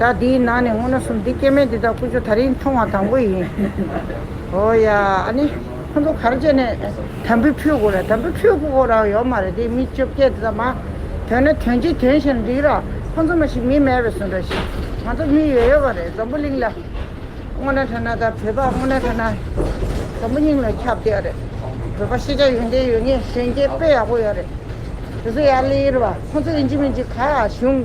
ད་འདིའི་ནང་ནས་སྔོ་ན་སུམ་འདི་སྐྱེ་མེད་འདི་དག་ཀུན་སྤྱོད་ད་རིང་མཐོང་བ་དང་པོ་ཡིན། ཨོ་ཡ། ཨ་ནི། ཁོ་ཚོ་གར་བྱས་ནས། དམ་བུ་ཕུད་དགོས་རེད་དམ་བུ་ཕུད་དགོས་རང་ཡོད་མ་རེད་དེ་མི་བཅོ་བརྒྱད་དེ་དག་མ། དོན་ནི་དོན་གྱིས་དོན་བྱས་ན་འགྲིག་ར། ཁོ་ཚོ་མ་ཞིག་མི་མེད་པའི་ཟུ་འདྲ་ཞིག། ང་ཚོ་མི་ཡོད་ཡོད་པ་རེད་འཛམ་བུ་གླིང་ལ། སྔོ་ན་ཐ་ན་ད་བོད་པ་སྔོ་ན་ཐ་ན། འཛམ་བུ་གླིང་ལ་ཁྱབ་བསྡད་ཡོད་རེད། བོད་པ་ཤེས་བྱ་ཡོན་ཏན་ཡོད་ངེས་གཞོན་སྐྱེས་དཔེ་ཡག་པོ་ཡོད་རེད། དེ་ཚོ་ཡར་ལེན་ཡིར་བ་ཁོ་ཚོ་ཨིན་ཇི་མིན་ཇི་ག་གཞུང།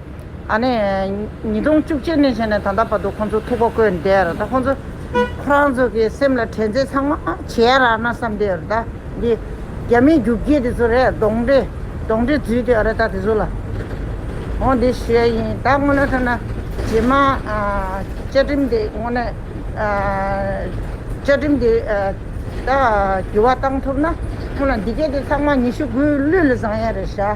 ཨ་ནི། ཉིས་སྟོང་བཅུ་གཅིག་ནས་བྱས་ནས་ད་ལྟ་བར་དུ་ཁོང་ཚོ་ཐུགས་ཁ་བསྐོན་བསྡད་ར་ད་ཁོང་ཚོ། ཁོ་རང་ཚོ་གི་སེམས་ལ་དྲན་ཚད་ཚང་མ་བྱས་ཡ་ར་ན་བསམ་བསྡད་ར་ད་འདི། རྒྱ་མིའི་རྒྱུགས་ཁྱི་དེ་ཚོ་རེད་གདོང་འདྲེ། གདོང་འདྲེ་རྫུས་དེ་ཨ་ར་ད་དེ་ཚོ་ལ། འོ་འདི་ཞོལ་ཡིན་ད་དངོས་གནས་ཐོས་ན། རྗེས་མ། བཅའ་ཁྲིམས་དེ་དངོས་གནས། བཅའ་ཁྲིམས་དེ། ད་འགྱུར་བ་བཏང་ཐུབ་ན། ཁོང་ལ་འདི་སྐད་དེ་ཚང་མ་ཉི་ཤུ་དགུའི་ལུས་ལ་བཟང་ཡ་རེད་ཤག།